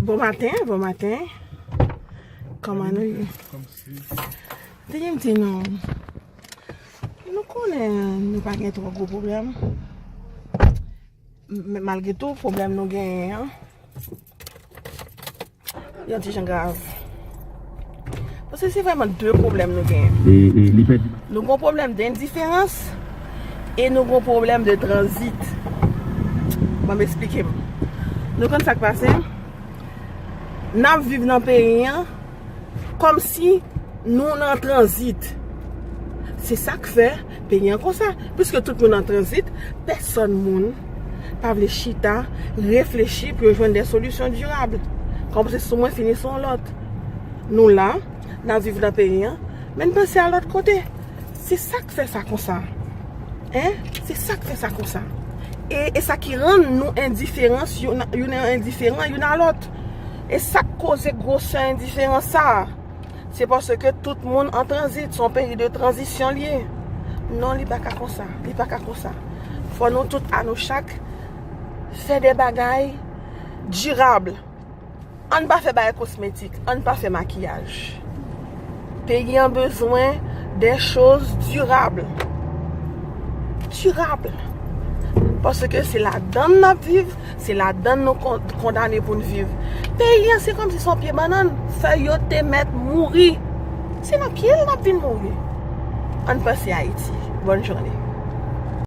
Bon maten, bon maten. Koman nou ye? Te gen m di nou, nou konnen nou pa gen tro gwo problem. Men malgre tou problem nou gen an, yon ti jan grav. Paske se vreman 2 pwoblèm nou genyen. Nou gen yon pwoblèm dendiferans e nou gen yon pwoblèm de tranzit. Banm esplike m. Nou konn sak pase? N ap viv nan peyi an kòm si nou nan tranzit. Se sak fè. Peyi an konsa, pwiske tout moun an tranzit, pèsòn moun pa vle chita, reflechi pou yo jwenn de solisyon dirab. Kòmanse sou mwen fini sou yon lòt. Nou la, n ap viv nan peyi an, men n panse al lòt kote. Se sa k fè sa konsa. Hein? Se sa k fè sa konsa. E e sa ki rann nou endiferans youn endiferan youn a lòt. E sa k koze gwosè endiferans sa a. Se paske tout moun an tranzit, son peyi de tranzisyon liye. Non li pa ka konsa, li pa ka konsa. Fò nou tout a nou chak, fè de bagay dirab. An pa fè bagay kosmetik, an pa fè makiyaj. Peyi an bezwen de choz dirab. Dirab. Paske se la dan nan viv. Se ladann nou kondane pou n viv. Peyi an se kòmsi se yon pye bannann, fèy yo te mèt mouri. Se nan pye l n ap vin mouri. Ann panse Ayiti. Bòn jounen.